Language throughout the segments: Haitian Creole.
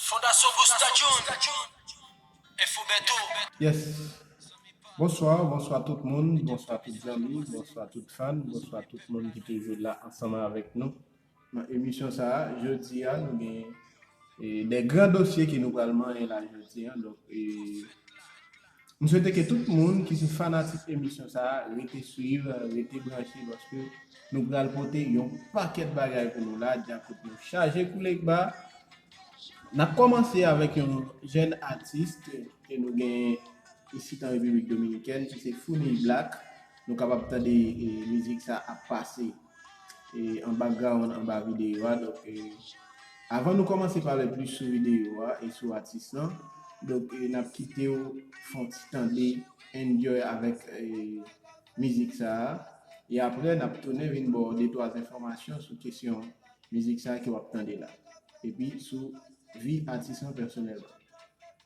Fondasyon Busta June, Info Bertho. Yes Bonsoir Bonsoir tout moun Bonsoir tout zanmi Bonsoir tout fan Bonsoir tout moun ki toujou la ansanm avèk nou nan emisyon sa jodi a nou gen 2 gran dosye ke nou pral manyen la jodi an donk M swete ke tout moun ki se fanatik emisyon sa a rete swiv, rete branche paske nou pral pote yon pakèt bagay pou nou la, Djakout nou chaje kou Legba. N ap kòmanse avèk yon jèn atis ke nou genyen isit an Repiblik Dominikèn ki se Founi Black. Nou kapab tande mizik sa ap pase. e an background anba videyo a donk avan nou kòmanse pale plis sou videyo a e sou atis lan donk nap kitew fon ti tande enjoy avèk mizik sa e aprè nap tounen vin baw de twa enfòmasyon sou kesyon mizik sa ke wap tande la epi sou vi atis lan pèsonèlman.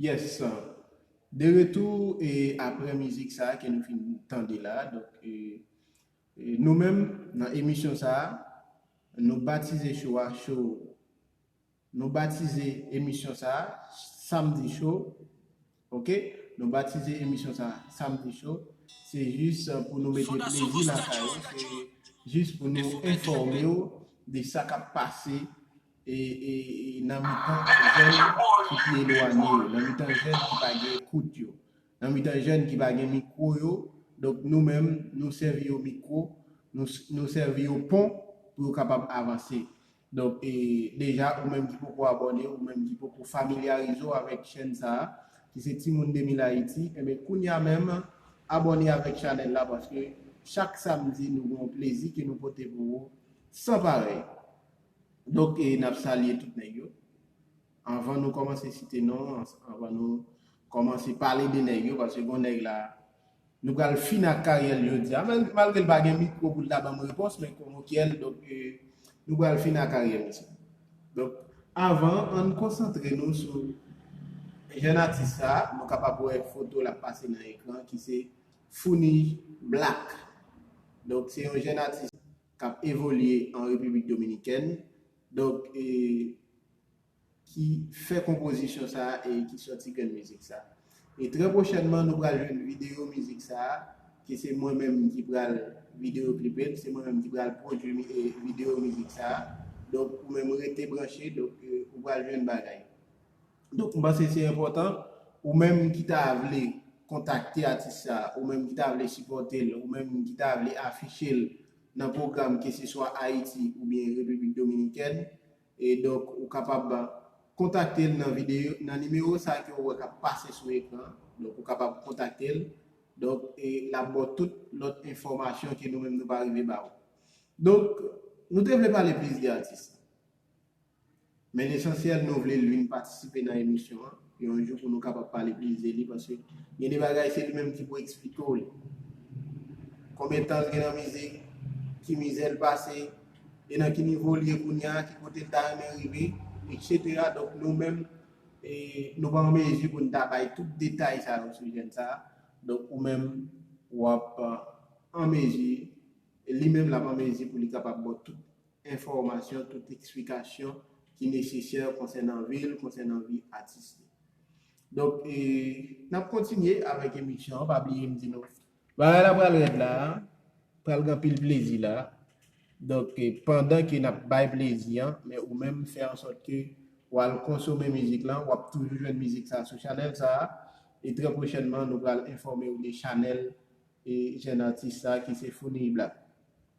Yes de retou e aprè mizik sa ke nou fin tande la donk nou menm nan emisyon sa nou batize show a show Nou batize emisyon sa a Samedi Show ok nou batize emisyon sa a Samedi Show se jis pou nou mete plezi lakay ou se jis pou nou enfòme ou de sa k ap pase nan mitan jèn ki pi elwanye yo nan mitan jèn ki pa gen ekout yo nan mitan jèn ki pa gen mikwo yo donk nou menm nou sèvi yo mikwo nou sèvi yo pon pou yo kapab avanse Donk deja ou menm ki poko abòne ou menm ki poko familyarize w avèk chèn sa ki se Timoun 2000 Haïti enben kounya menm abòne avèk chanèl la paske chak samdi nou gen yon plezi ke nou pote pou ou san parèy. Donk nap salye tout nèg yo. Anvan nou kòmanse site non, anvan nou kòmanse pale de nèg yo, paske gon nèg la, nou pral fini ak karyèl jodia, malgrel pa gen mikwo poul ta banm repons men komokyèl donk nou pral fini ak karyè misye. Donk avan ann konsantre nou sou jèn atis sa, nou kapab wè fotol ap pase nan ekran ki se Founij Black. Donk se yon jèn atis kap evolye an Repiblik Dominikèn, Donk e ki fè konpozisyon sa a e ki sòti grenn mizik sa a. E trè pwochènman nou pral jwenn videyo mizik sa a ke se mwen menm ki pral videyo klipe l, se mwen menm ki pral pwodui videyo mizik sa a. Donk ou menm rete branche donk ou pral jwenn bagay. Donk m panse se enpòtan ou menm ki ta vle kontakte atis sa a, ou menm ki ta vle sipòte l, ou menm ki ta vle afiche l nan pwogram keseswa Ayiti oubyen Repiblik Dominikèn e donk ou kapab kontakte l nan videyo nan nimewo sa ke ou wè kap pase sou ekran an donk ou kapab kontakte l donk e lap ba w tout lòt enfòmasyon ke nou menm nou pa rive ba ou donk nou te vle pale plis de atis la. Men lesansyèl nou vle Lune patisipe nan emisyon an yon jou pou nou kapab pale plis de li paske gen de bagay se li menm ki pou eksplike w li. Konbyen tan l gen nan mizik, ki mizè l pase, e nan ki nivo l ye kounya, ki kote l ta renmen rive, etc. Donk nou menm e nou pa an mezi pou n ta bay tout detay sa yo sou jèn sa a. Donk ou menm w ap an mezi, li menm l ap an mezi pou li kapab ba w tout enfòmasyon, tout eksplikasyon ki nesesè konsènan vi l, konsènan vi atis li. Donk, n ap kontinye avèk emisyon an, pa bliye m di nou. Bagay la pral rèd la a, pral gen anpil plezi la a. Donk, pandan ke n ap bay plezi an, men ou menm fè an sòt ke w al konsome mizik lan, w ap toujou jwenn mizik sa a sou chanèl sa a. E trè pwochènman, nou pral enfòme ou de chanèl jèn atis sa a ki se Funny Black.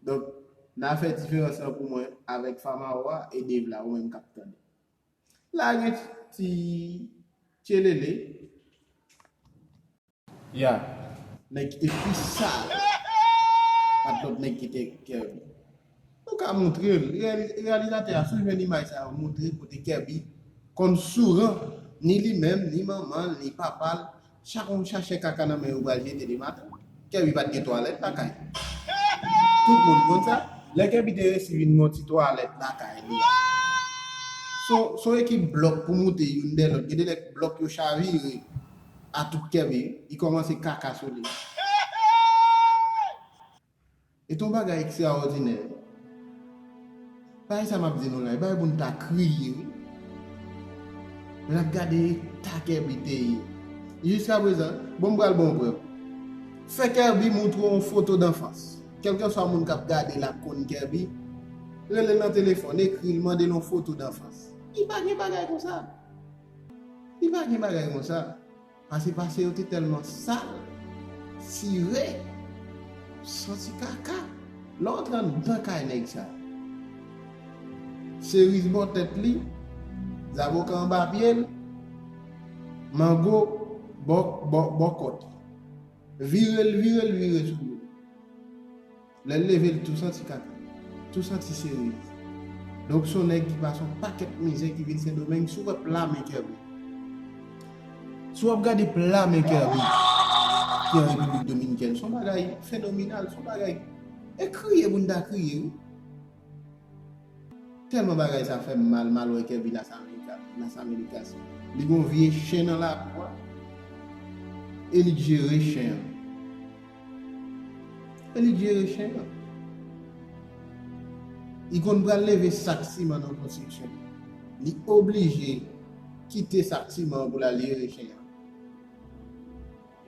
Donk na fè diferans lan pou mwen avèk Famao a e Dave la ou menm kap tande. Lage ti tchelele. Ya nèg ki te pi sal pat lòt nèg ki te Kerby. Nou ka moutre l, reyalizatè a si w jwenn imaj sa yo moutre kote Kerby konn souran ni li menm, ni manman l, ni papa l. Chak moun chache kaka nan men yo pral jete demen maten. Kerby pat gen twalèt lakay li. Tout moun konn sa. Lè Kerby te resi vin gen yon ti twalèt lakay li a. Son ekip blòk pou moute youn dè lòt. Gen de lè blòk yo chavire a tout Kerby. Li kòmanse kaka sou li. Et yon bagay ekstraòdinè, bagay sa m ap di nou la, e bagay pou nou ta kriye wi. Lè n ap gade eta Kerby te ye, jiskaprezan, bon m pral ba w yon prèv. Fè Kerby montre w yon foto danfans. Kèlkanswa moun k ap gade l ap konn Kerby, rele l nan telefòn, ekri l, mande l yon foto danfans. Li pa gen bagay konsa. Li pa gen bagay konsa. Pase pase yo te tèlman sal, sire, santi kaka. Lè w antre anndan kay nèg sa, seriz bò tèt li, zaboka anba pye l, mango bò kòt li. Vire l vire l vire sou li. Lè l leve li tou santi kaka. Tou santi seri. Donk s on nèg ki pase on pakèt mizè ki vin Sendomeng si w wè pla men Kerby. Si w ap gade pla men Kerby ki an Repiblik Dominikèn s on bagay fenominal s on bagay e kriye pou n ta kriye wi. Telman bagay sa fèm mal mal wè kevin as americas li gon vye chen nan lakou a e li k jere chen an e li k jere chen an li konn pral leve sak siman nan konstriksyon li oblije kite sak siman an pou lal jere chen an.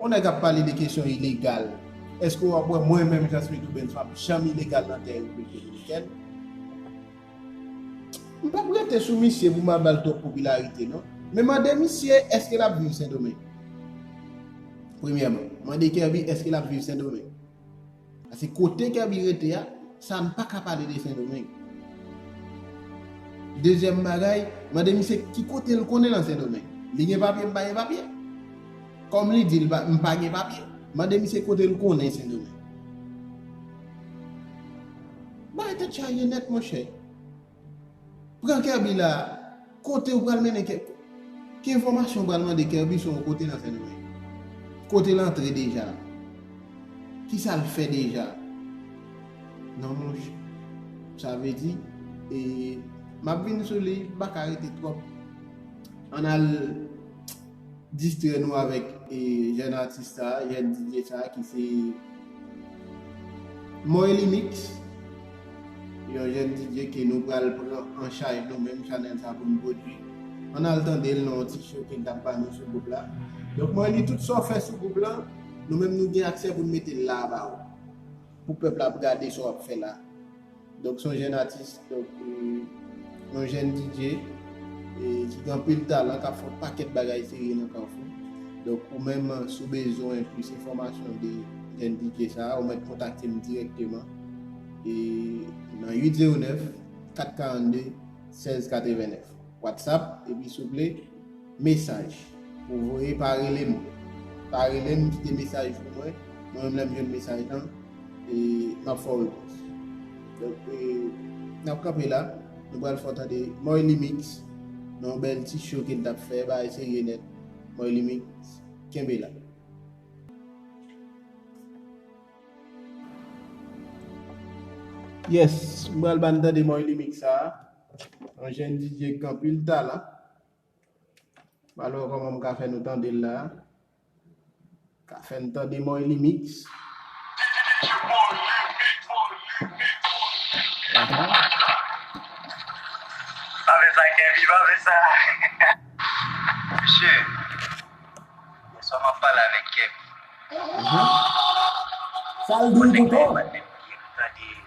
On nèg ap pale de kesyon ilegal, eske ou ap wè mwen menm Jean Smith Rubens m ap janm ilegal nan tè Repiblik Dominikèn? M pap rete sou misye pou m al ba l twòp popilarite non. Men mande misye eske l ap viv Sendomeng? Premyèman, mande Kervy eske l ap viv Sendomeng? Pase kote Kerby rete a, sa m paka pale de sendomeng. Dezyèm bagay, mande misye ki kote l konnen nan sendomeng. Li gen papye m pa gen papye? Kòm li di l m pa gen papye, mande misye kote l konnen sendomeng. Bagay tèt chaje nèt monchè. Pran Kerby la a! Kote ou pral mennen Ke. Ki enfòmasyon ou pral mande Kerby sou yon kote nan Sendomeng? Kote l antre deja? Kisa l fè deja? Non monchè. Sa vle di, e, m ap vin sou li, m pa ka rete twòp. An n al. distrè nou avèk jèn atis sa, jèn DJ sa ki se Moelly Mix, yon jèn DJ ke nou pral pran an chaj nou menm chanèl sa pou nou pwodui. Ann al tande l nan yon ti show ke l t ap ba nou sou gwoup la. Donk Moelly tout sa w fè sou gwoup lan, nou menm nou gen aksè pou n mete l la a ba ou. Pou pèp la ap gade sa w ap fè la. Donk son jèn atis, donk yon jèn DJ ki gen anpil talan kap fè yon pakèt bagay serye nan Carrefour. Donk ou menm si w bezwen plis enfòmasyon de jèn DJ sa, ou mèt kontakte m dirèkteman nan 809 442 1689. Whatsapp epi souple mesaj pou w voye pa rele m pa rele m kite mesaj pou mwen mwen menm lè m jwenn mesaj lan m ap fè w repons donk n ap kanpe la nou pral fè w tande Moylimix nan yon bèl ti show ke l t ap fè bagay serye nèt Moylimix kenbe la. Yes m pral ba n tande Moylimix sa a. Yon jèn DJ k gen anpil talan. M al wè kòman m ka fè nou tande l la a. Ka fè n tande Moyly Mix. Sa l di w pou tò?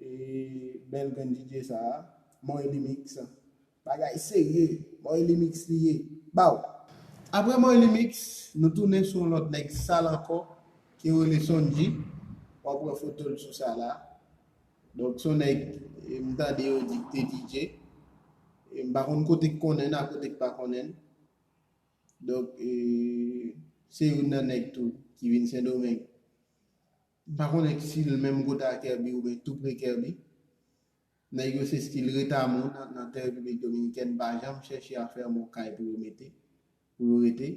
E bel grenn DJ sa a. Morelly mix. Bagay serye. Morelly mix li ye. Baww. Aprè Morelly mix, nou tounen sou yon lòt nèg sal ankò ke yo rele Sondji. Wap wè foto l sou sa la. Donk son nèg m tande yo di k te DJ. E m pa konn kote k konnen n a kote k pa konnen n. Donk se youn nan nèg tou ki vin Sendomeng. M pa konnen si l menm kote a Kerby oubyen tou pre Kerby. Nèg yo se stil Retamou nan tè Repiblik Dominikèn pa janm chèche a fè yon kay pou yo mete, pou yo rete.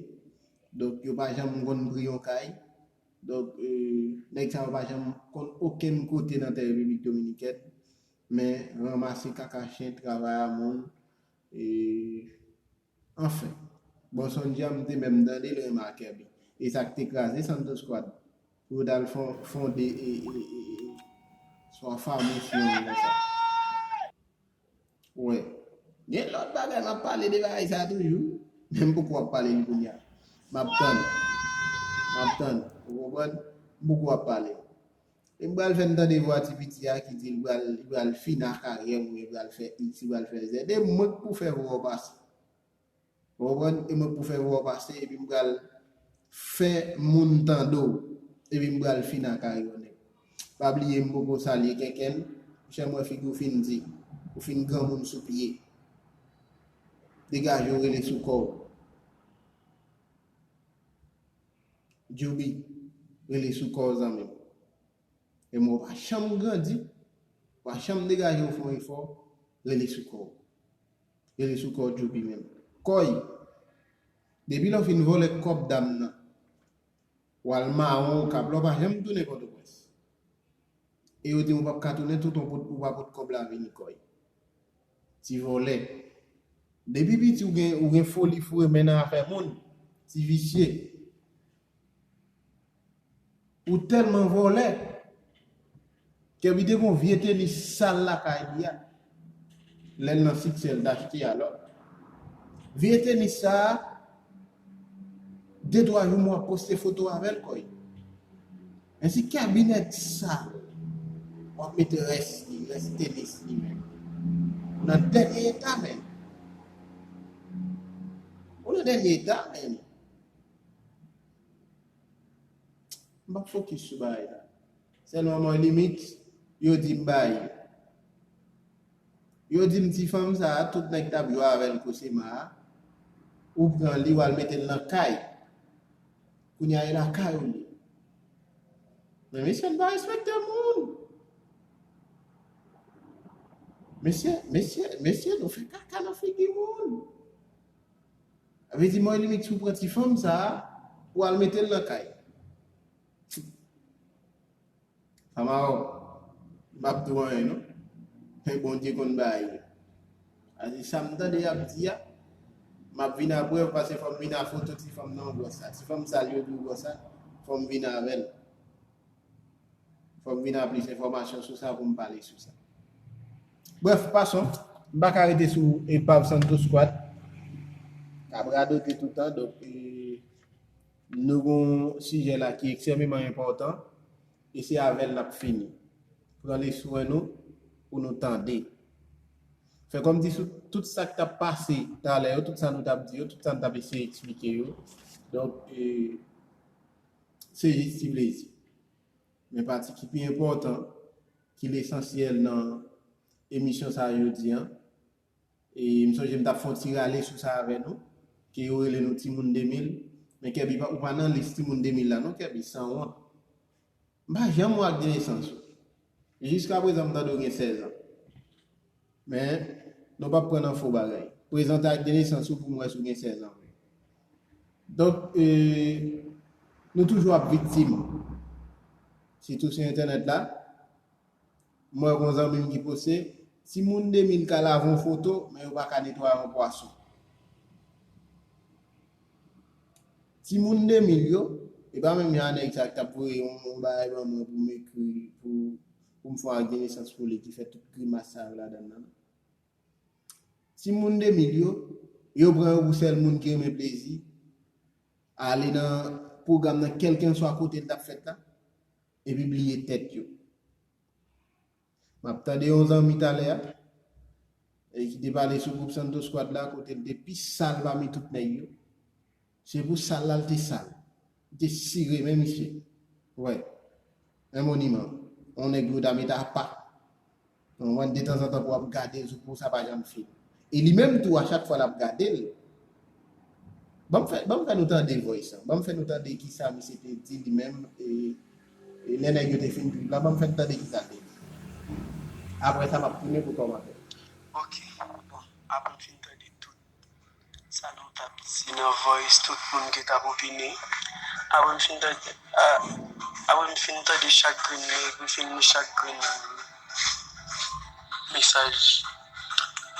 Donk yo pa janm konn pri yon kay. Donk nèg sa yo pa janm konn okenn kote nan tè Repiblik Dominikèn men ranmase kaka chen travay a moun. Anfen. Bon Sonja m te menm tande l renmen ak Kerby. E sa k te kraze Santo Squad pou yo t al fonde Swa Famous yon bagay konsa. Wè. Gen lòt bagay m ap pale de bagay sa toujou. Men m poko ap pale li kounya. M ap tann. M ap tann. Ou konprann? M poko ap pale l. Em pral fèm tande vwa ti piti a ki dil pral li pral fini a karyèm ou byen pral fè ix li pral fè zed e mwen k pou fè vwaw pase ou konprann e mwen k pou fè vwaw pase epi m pral fè moun tande w epi m pral fini a karyèw nèg pa bliye m poko salye kenkenn monchè m wè figi w fin di ou fin granmoun sou pye degaje w rele sou kòw. Djoby rele sou kòw zanmim. E mwen ou pa janm grandi, ou pa janm degaje ou fon efò, rele sou kòw. Rele sou kòw Djoby menm. Kòy! Depi lè ou fin vòlè kòb dam nan, ou al mawon okap la ou pa janm tounen pòtoprens. E yo dim ou pap ka tounen tout ou pa pot kòb la vini kòy. Ti vòlè. Depi piti ou gen ou gen foli foure men nan afè moun. Ti visye. Ou tèlman vòlè. Kèbi te gen yon vye tenis sal lakay li a. Lè l nan siksè l t achte a lòt. Vye tenis sa a, de twa jou m wap poste foto avè l kòy. Men si cabinet sa wap mete res li res tenis li menm ou nan denye eta menn ou nan denye eta menn m pap fokis sou bagay la selman mwen limit yo dim bayi yo dim ti fanm sa tout neg tap jwe avel cosima ou pran li wal metel nan kay Kounya e lakay ou li. Men mesye n pa respekte moun. Mesye, mesye, mesye nou fè kaka nan figi moun. A vle di mwen limit si w pran ti fanm sa a, pou w al mete l nan kay. Amaro mpap diw anyen non men bondye konn bay li pase sam tande yap di a map vin a prèv pase fòm vin a foto ti fanm nan ou bò sa ti fanm sal yo di ou bò sa fòm vin avèl fòm vin a plis enfòmasyon sou sa poum pale sou sa brèf pason mpaka rete sou epav santo squad kap radote toutan donk e Nou gen yon sijè la ki eksememan enpòtan e se avè l n ap fini. Pran le swen nou pou nou tande. Fè kòm di sou tout sa k t ap pase talè yo, tout sa nou t ap di yo, tout sa n t ap eseye eksplike yo. Donk, se jis ti plezi. Men pati ki pi enpòtan, ki lesansyèl nan emisyon sa a jodi an, E m sonje m t ap fè yon ti rale sou sa avè nou, ke yo rele nou timoun 2000. Men Kèbi, ou pa nan lis timoun 2000 la non Kèbi, san wont. M pa janm wè ak de nesans ou. Jiska prezan m tande w gen 16 an. Men, nou p ap pran nan fo bagay. Prezante ak de nesans ou pou m wè si w gen 16 an vre. Donk, e, nou toujou ap viktim. Sitou sou entènèt la. Mwen wè yon zanmim ki poste, timoun 2000 ka lave yon foto men yo pa ka netwaye yon pwason. Timoun 2000 yo, e pa menm jan a nèg sa ki tap voye yon bagay ban mwen pou m ekri li, pou m fè yon agdenesans pou li ki fè tout grimas sa yo ladan nan. Timoun 2000 yo, yo pran yo pou sèl moun ki renmen plezi, ale nan pwogram nan kèlkenswa kote li tap fèt la, epi bliye tèt yo. M ap tande yon zanmi talè a ki te pale sou gwoup Santo Squad la kote l te pi sal pami tout nèg yo. Se pou sal la l te sal. Li te sire men misye. Wè, yon moniman, yon nèg yo ta met apa. Nan moman detanzantan pou ap gade zoukou sa pa janm fini. E li menm tou a chak fwa lap gadel banm fè banm fè nou tande voice an banm fè nou tande kisa misye te di li menm e e lè nèg yo te fin trip la banm fèm tande kisa l te di aprè sa map tounen pou kòmantè. Ok bon apre m fin tande tout. Sa nou tap di nan voice tout moun ki tap opine. Apre m fin tande apre m fin tande chak grenn nèg m fin li chak grenn mesaj.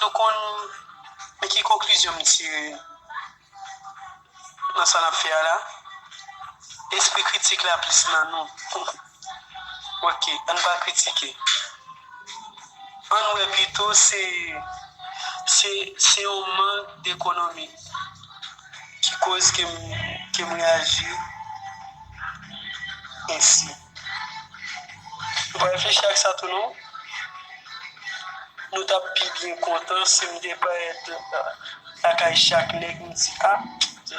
Nou konn men ki konklizyon m tire nan sa nap fè a la, espri kritik la plis nan nou. Ok ann pa kritike ann wè pito se se yon mank dekonomi ki koz ke m reyaji ensi ou pa reflechi ak sa tou non nou t ap pi byen kontan si m te parèt lakay chak nèg m di a je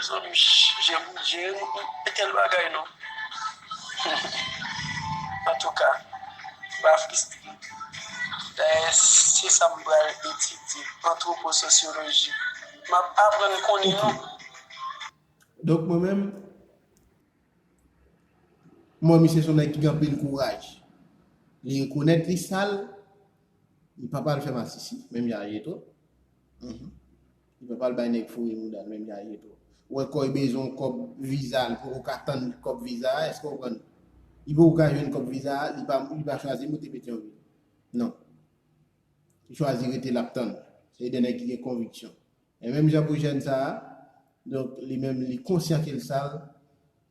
m je m e tèl bagay non. Antouka, m pa fristre. Dayè, se sa m pral etidye, antwopososyoloji. M ap aprann konnen nou. Donk mwen menm, m wè misye se yon nèg ki gen anpil kouraj. Li rekonèt li sal, li pa pral fè masisi, menm jan ak Jetro. Li pa pral bay nèg foure moudal menm jan je to wè kòy bezwen yon kòb viza li poko ka tann kòb viza a èske ou konprann li poko ka jwenn kòb viza a li pa li pa chwazi moute petyonvil non li chwazi rete lap tann se de nèg ki gen konviksyon e menm jan pou jèn sa a donk li menm li konsyan kel sal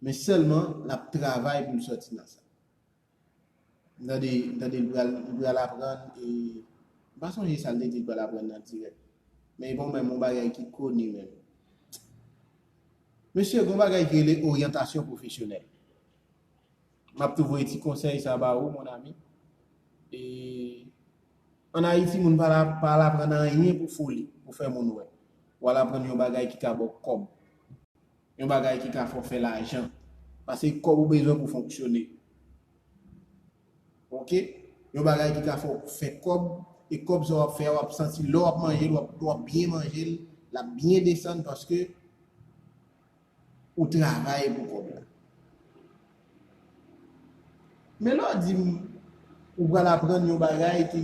men sèlman lap travay poul sòti nan sa. M tande, m tande li pral, li pral aprann e m pa sonje sa l te di li pral aprann nan dirèk. Men e pa w menm yon bagay ki koni menm. Mesye, gen yon bagay ki rele oryantasyon pwofesyonèl. M ap tou voye ti konsèy sa ba ou mon ami. E ann Ayiti moun pa al, pa al aprann anyen pou foli, pou fè moun wè. Ou al aprann yon bagay ki ka ba w kòb. Yon bagay ki ka fè w fè lajan. Pase kòb ou bezwen pou fonksyone. Ok. Yon bagay ki ka fè w fè kòb, e kòb sa w ap fè a w ap santi lè w ap manje l, w ap byen manje l, l ap byen desann paske ou travay pou kòb la. Men lè w di m ou pral aprann yon bagay ki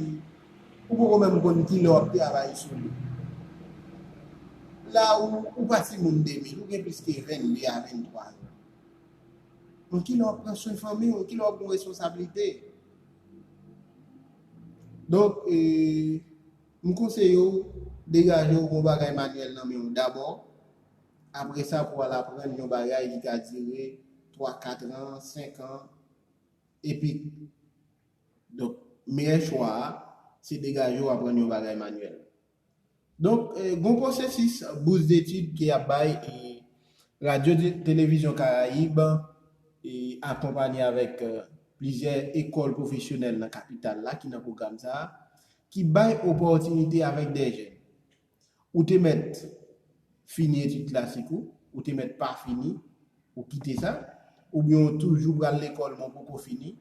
ou poko menm konn ki lè w ap travay sou li. La a ou pa ti moun Demil, ou gen plis ke 22 a 23 an. Bon ki lè w ap pran swen fanmi w, ki lè w ap pran responsablite. Donk e m konseye w degaje w pran bagay manyèl nan men w dabò Apre sa pou al aprann yon bagay ki ka dire 3, 4 an, 5 an, epik. Donk, meyè chwa a, se degaje w aprann yon bagay manyèl. Donk, gon pwosesis bous detid ke y ap bay e Radyo Televizyon Karayib e akonpanye avèk plizyè ekòl pwofesyonèl nan kapital la ki nan pwogram sa a, ki bay opòtinite avèk dè jèn. Ou te mèt fini etid klasik ou, ou te mèt pa fini, ou kite sa, oubyen ou toujou pral lekòl men w poko fini,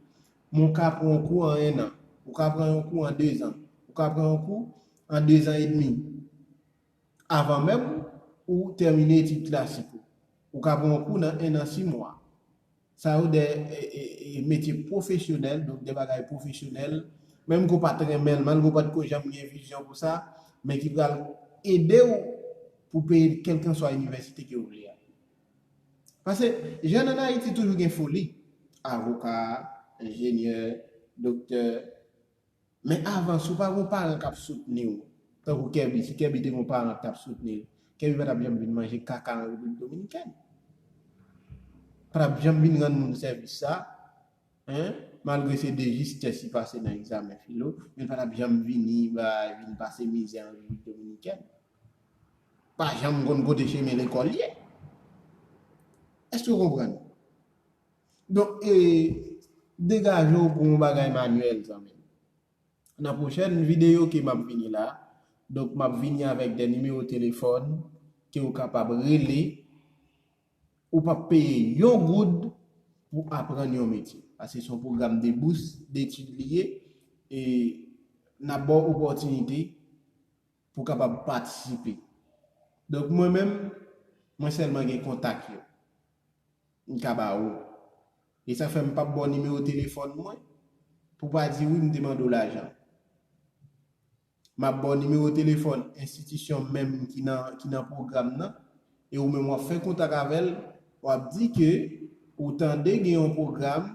men w ka pran yon kou an ennan, ou ka pran yon kou an dezan, ou ka pran yon kou an dezan edmi, avan menm ou tèmine etid klasik ou. Ou ka pran yon kou nan ennan simwa. Sa yo de metye pwofesyonèl, donk de bagay pwofesyonèl, menm ke w pa t renmen l, malgre w pa t ko janm gen vizyon pou sa, men ki pral ede w pou w peye kèlkanswa inivèsite ke w vle a. Pase, jèn ann Ayiti toujou gen foli, avoka, enjenyè, doktè, Men avan si w pa gen yon paran k ap soutni w, tankou Kèbi, si Kèbi te gen yon paran ki t ap soutni l, Kèbi pa t ap janm vin manje kaka an Repiblik Dominikèn. Li pa t ap janm vin rann moun sèvis sa a, malgre se de jistès li pase nan egzamen filo, men li pa t ap janm vini bay, vin pase mizè an Repiblik Dominikèn. Li pa janm konn kote chemen lekòl ye. Èske w konprann? Donk e degaje w pou yon bagay manyèl zanmi m. Nan pwochèn videyo ke m ap vini la, donk m ap vini avèk de nimewo telefòn ke ou kapab rele, ou pap peye yon goud pou aprann yon metye. Paske se yon pwogram de bous detid li ye e n ap ba w opòtinite. Pou w kapab patisipe. Donk mwen menm, mwen sèlman gen kontak yo. M ka ba ou. E sa fè m pap ba w nimewo telefòn mwen, pou w pa di wi m te mande w lajan. M ap ba w nimewo telefòn enstitisyon menm ki nan pwogram nan, e ou menm wap fè kontak avèl wap di ke ou tande gen yon pwogram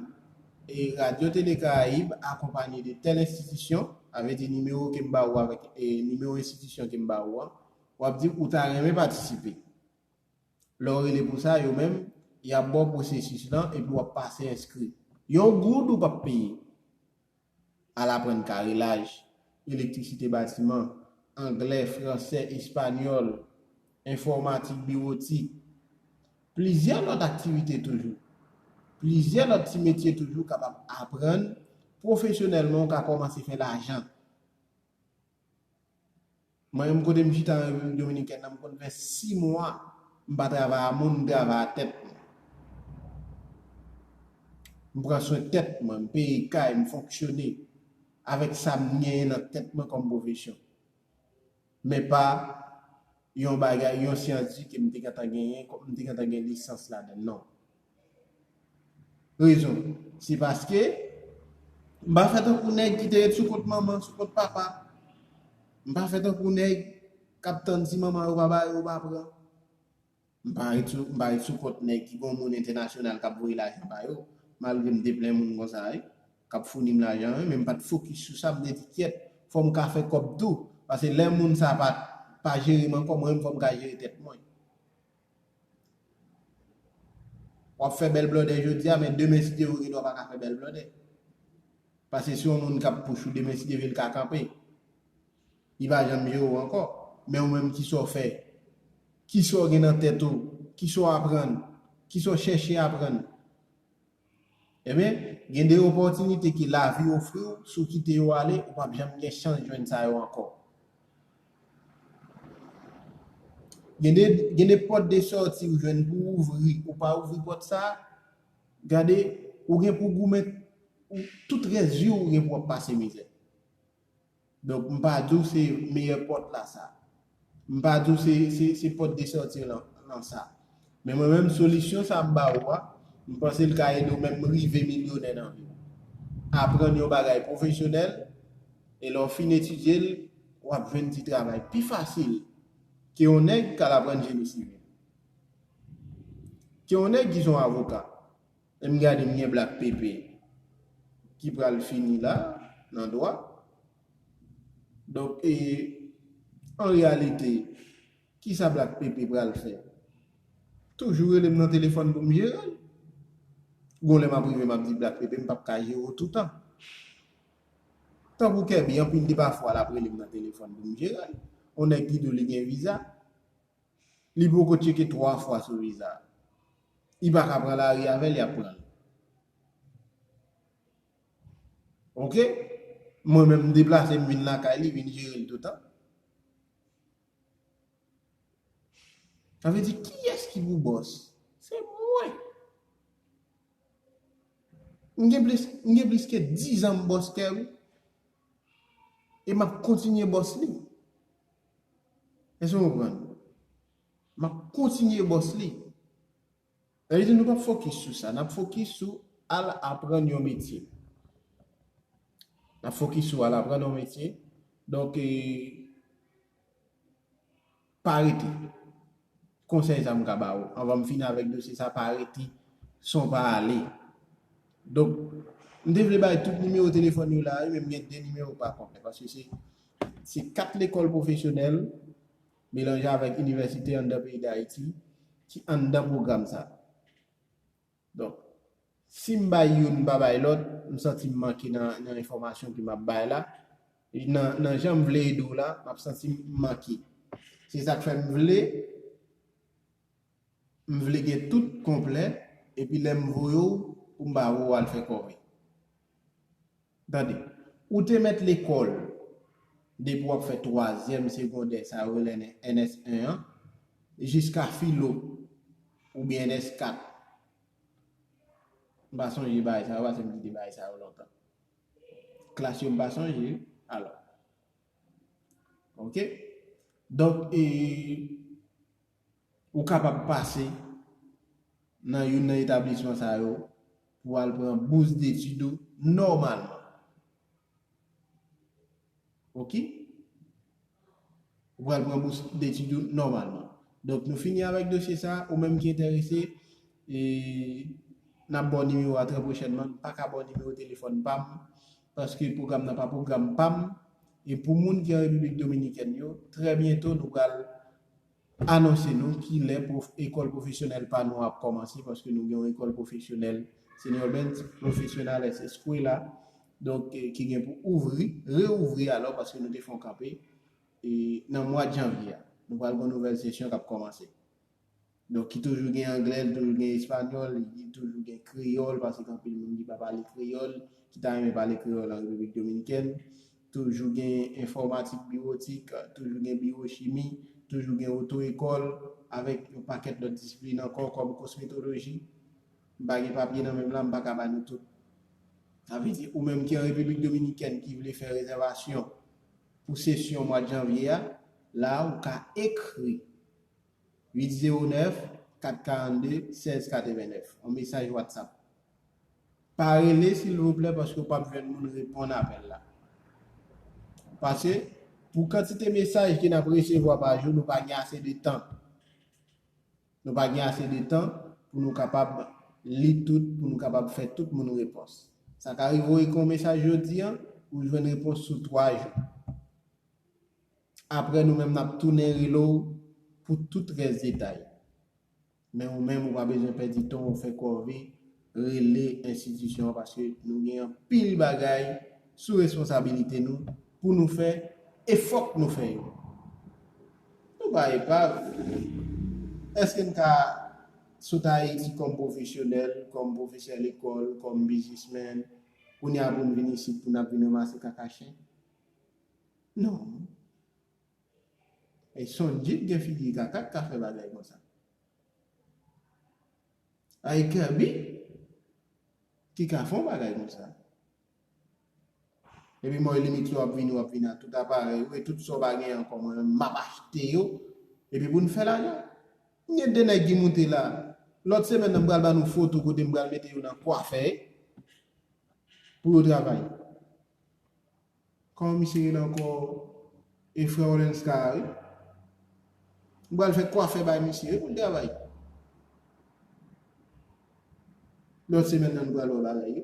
e Radyo Tele Karayib akonpanye de tèl enstitisyon, sa vle di nimewo kem ba ou avèk nimewo enstitisyon kem ba ou an, wap di ou ta renmen patisipe. Lèw rele pou sa yo menm yap baw pwosesis lan epi wap pase enskri. Yon goud ou pap peye. Al aprann karelaj, elektrisite batiman, anglè, fransè, espanyòl, enfòmatik biwotik. Plizyè lòt aktivite toujou. Plizyè lòt ti metye toujou kapab aprann pwofesyonèlman ou ka kòmanse fè lajan. Mwen menm kote m chita nan Repiblik Dominikèn nan m konn fè 6 mwa m pa travay a moun m travay a tèt mwen. M pran swen tèt mwen, m peye kay, m fonksyone avèk sa m genyen nan tèt mwen kòm pwofesyon. Men pa yon bagay, yon syansi ke m te gentan genyen, m te gentan gen lisans ladann non. Rezon, se paske m pa fè tankou nèg ki te ret sou kont manman, sou kont papa. M pa fè tankou nèg k ap tann si manman yo pa ba yo, yo pa pran. M pa ret sou kont nèg ki gon moun entènasyonal k ap voye lajan ba yo, malgre m te plen moun konsa wi, k ap founi m lajan wi, men m pa t fokis sou sa, m te di kyèt, fò m ka fè kòb tou, paske lè moun sa a pa jere m ankò, mwen menm fò m ka jere tèt mwen. Wap fè bèl blòdè jodia men demen si Dieu vle wap paka fè bèl blòdè. Pase si yon moun kap pouch ou demen si Dieu vle li ka kanpe. Li pa janm jere w ankò. Men ou menm kisa w fè? Kisa w gen nan tèt ou? Kisa w aprann? Kisa w chèche aprann? Ebyen, gen de opòtinite ke lavi ofri w, si w kite yo ale, ou pap janm gen chans jwenn sa yo ankò. Gen de, gen de pòt de sòti ou jwenn pou w ouvri, ou pa ouvri pòt sa, gade, ou gen pou goumen, tout rès vi w ou gen pou w ap pase mizè. Donk m pa di w se meyè pòt la sa. M pa di w se pòt de sòti lan sa. Men mwen menm solisyon sa m ba ou a, m panse l ka ede w menm rive milyonè nan vi w. Aprann yon bagay pwofesyonèl, e lè w fin etidye l, w ap jwenn ti travay pi fasil ke yon nèg k al aprann jeni sivil. Ke yon nèg ki se yon avoka. Lè m gade m gen black pepe ki pral fini la nan dwa. Donk e an reyalite kisa black pepe pral fè? Toujou rele m nan telefòn pou m jere l. Gon lè m ap rive m ap di black pepe m p ap ka jere w toutan. Tankou Kerby anpil de pa fwa l ap rele m nan telefòn pou m jere l. On nèg ki di w li gen viza. Li poko tcheke 3 fwa sou viza. I pa ka pran lari avèl yap pran l. Ok mwen menm m deplase m vin lakay li vin jere l toutan. Sa vle di kiyès ki pou bòs? Se mwen. M gen plis m gen plis ke 10 an m bòs kè wi. E map kontinye bòs li. Èske w konprann? M ap kontinye bòs li. Sa vle di nou p ap fokis sou sa. N ap fokis sou al aprann yon metye. N ap fokis sou al aprann yon metye. Donk, pa rete. Konsèy sa m ka ba ou anvan m fini avèk dosye sa pa rete san w pa ale. Donk, m te vle bay tout nimewo telefòn yo la wi men m gen 2 nimewo m pa konpè paske se se 4 lekòl pwofesyonèl melanje avèk inivèsite anndan peyi Dayiti ki anndan pwogram sa. Donk, si m bay youn m pa bay lòt, m santi m manke nan enfòmasyon ke m ap bay la, nan jan m vle ede w la, m ap santi m manke. Se sa k fè m vle, m vle gen tout konplè, epi lè m voye w, pou m ba ou, ou al fè kòve. Tande. Ou te mèt lekòl depi w ap fè twazyèm segondè, sa yo rele NS 1 an, jiska filo oubyen NS 4. M pa sonje bagay sa yo pase m kite bagay sa yo lontan. Klas yo m pa sonje. Alò. Ok. Donk e. Ou kapab pase nan youn nan etablisman sa yo pou al pran bous detid ou nòmalman. Ok. Ou pral pran bous detid ou nòmalman. Donk nou fini avèk dosye sa, ou menm ki enterese, e n ap ba w nimewo a trè pwochènman. M pa ka ba w nimewo telefòn pa m, paske pwogram nan pa pwogram pa m. E pou moun ki an Repiblik Dominikèn yo, trè byento nou pral anonse nou ki lè pwof ekòl pwofesyonèl pa nou ap kòmanse paske nou gen yon ekòl pwofesyonèl Señor Benz Profesionales Escuela donk ki gen pou ouvri reouvri alò paske nou te fè yon kanpe e nan mwad janvye a nou pral gen yon nouvèl sesyon k ap kòmanse Donk ki toujou gen anglè, li toujou gen espanyòl, li toujou gen kreyòl, paske gen anpil moun ki pa pale kreyòl, ki ta renmen pale kreyòl an Repiblik Dominikèn. Toujou gen enfòmatik biwotik, toujou gen biwochimi, toujou gen oto ekòl, avèk yon pakèt lòt disiplin ankò kòm kosmetoloji. M pa gen papye nan men m la, m pa ka ba nou tout. Sa vle di, ou menm ki an Repiblik Dominikèn ki vle fè rezèvasyon pou sesyon mwad janvye a, la a ou ka ekri. 809 442 16 89 yon mesaj whatsapp pa rele silvouplè paske ou pap jwenn moun reponn apèl la paske pou kantite mesaj ke nap resevwa pa jou nou pa gen ase de tan nou pa gen ase de tan pou nou kapab li tout pou nou kapab fè tout moun repons sa ka rive ou ekri yon mesaj jodi an ou jwenn repons sou 3 jou. Aprè nou menm nap tounen rele w pou tout rès detay. Men ou menm ou pa bezwen pèdi tan w fè kòve rele enstitisyon an paske nou gen anpil bagay sou responsabilite nou pou nou fè e fòk nou fè yo. Nou pa epav. Eske n ka sot Ayiti kòm pwofesyonèl, kòm pwofesè lekòl, kòm biznismèn, kounye a pou n vin isit pou n ap vin ranmase kaka chen? Non. E Sonji t gen figi kaka t ka fè bagay konsa. A e Kerby ki ka fè yon bagay konsa. Epi mwen limit lè wap vini wap vini ak tout aparèy ou e tout sa w pa gen ankò mwen menm map achte yo epi pou n fè lajan. M gen 2 nèg ki moute la. Lòt semèn nan m pral ba nou foto kote m pral mete yo nan kwafè pou yo travay. Kòman misye rele ankò e frè Olenska a wi. M pral fè kwafè bay misye wi pou l travay. Lòt semèn nan nou pral wè bagay yo.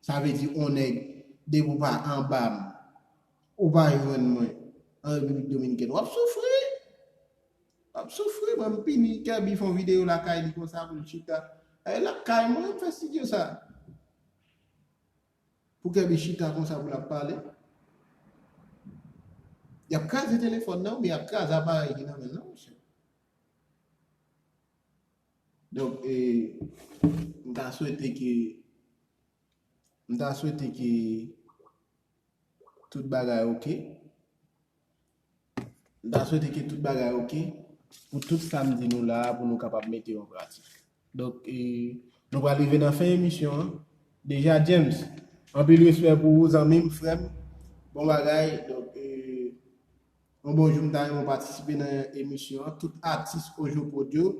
Sa vle di on nèg depi w pa anba m ou pa jwenn mwen an Repiblik Dominikèn w ap soufri. W ap soufri mwen m pini Kerby fon videyo lakay li konsa pou l chita. Lakay mwen m fè studio sa. Pou Kerby chita konsa pou lap pale. Yap kraze telefòn nan oubyen yap kraze aparèy ki nan menl nan mesye. Donk e m ta swete ke m ta swete ke tout bagay ok. M ta swete ke tout bagay ok pou tout sa m di nou la a pou nou kapab mete yo an pratik. Donk, nou pral rive nan fen emisyon an deja. James, anpil respè pou ou zanmi m, frè m. Bon bagay. Donk, yon bon jou m ta renmen w patisipe nan emisyon an. Tout atis Ojokod yo,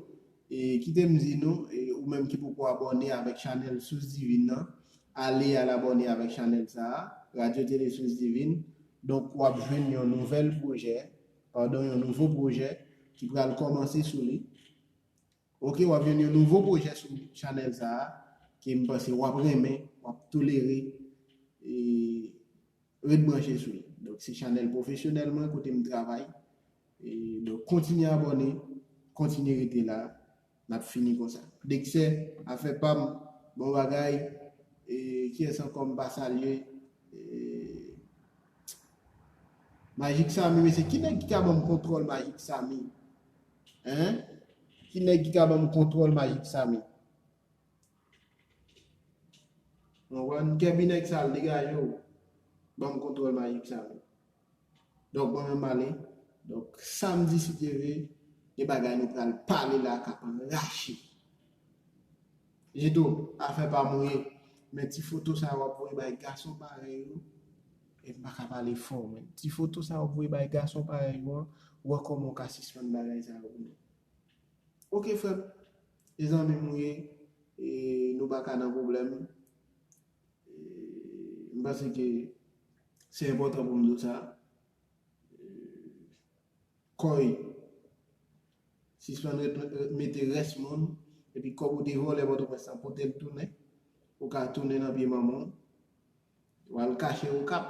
kite m di nou, ou menm ki poko abòne avèk chanèl Sous Divin nan, ale al abòne avèk chanèl sa a, Radyo Tele Sous Divin. Donk w ap jwenn yon nouvèl pwojè, padon yon nouvo pwojè ki pral kòmanse sou li. Ok w ap jwenn yon nouvo pwojè sou chanèl sa a ke m panse w ap renmen, w ap tolere e ret branche sou li. Donk se chanèl pwofesyonèl mwen kote m travay e donk kontinye abòne, kontinye rete la Nap fini konsa. Dexè afè pam bon bagay kiyès ankò m pa salye Magic Samy mesye ki nèg ki ka banm kontròl Magic Samy hein ki nèg ki ka banm kontròl Magic Samy mwen wè kèbi nèg sal degajew banm kontròl Magic Samy Donk mwen menm male. Donk samdi si Dye ve gen bagay nou pral pale la kap rache. Jidou, afè pa m ou ye, men ti foto sa yo wap voye bay gason parèy ou, e m pa ka pale fò men, ti foto sa yo wap voye bay gason parèy ou an, wè kòman ou ka sispann bagay sa yo pou mwen. Ok frè m, e zanmi m ou ye, e nou pa ka nan pwoblèm. M panse ke se enpòtan pou m di w sa. Kòy sispann mete rès moun epi kòb ou te vòlè pòtoprens lan pote l tounen. Ou ka tounen nan pye manman w. Ou al kache okap.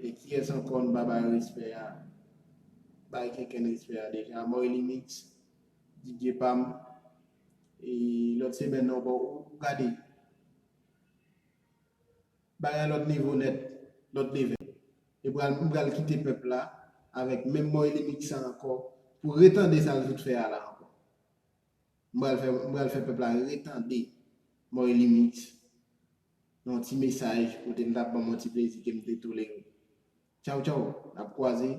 E kiyès ankò n pa bay respè a? Bay kenkenn respè a deja. Moylimix, Didye pa m. E lòt semèn nan ankò ou gade bagay lòt nivo nèt, lòt level. Li pral m pral kite pèp la avèk menm Moy Limit sa ankò pou retande sa l fout fè a la ankò. M pral fè m pral fè pèp la retande Moy Limit nan yon ti mesaj kote m ta pran m yon ti plezi ke m te tolere. Tchaw tchaw nap kwaze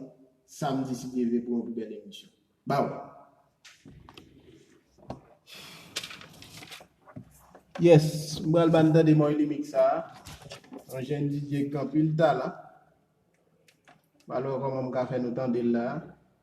samdi si Dye vle pou yon pi bèl emisyon. Baww. Yes m pral bann tande Moy Limix sa a yon jèn DJ ki gen anpil talan m pa l wè kòman m ka fè nou tande l la a.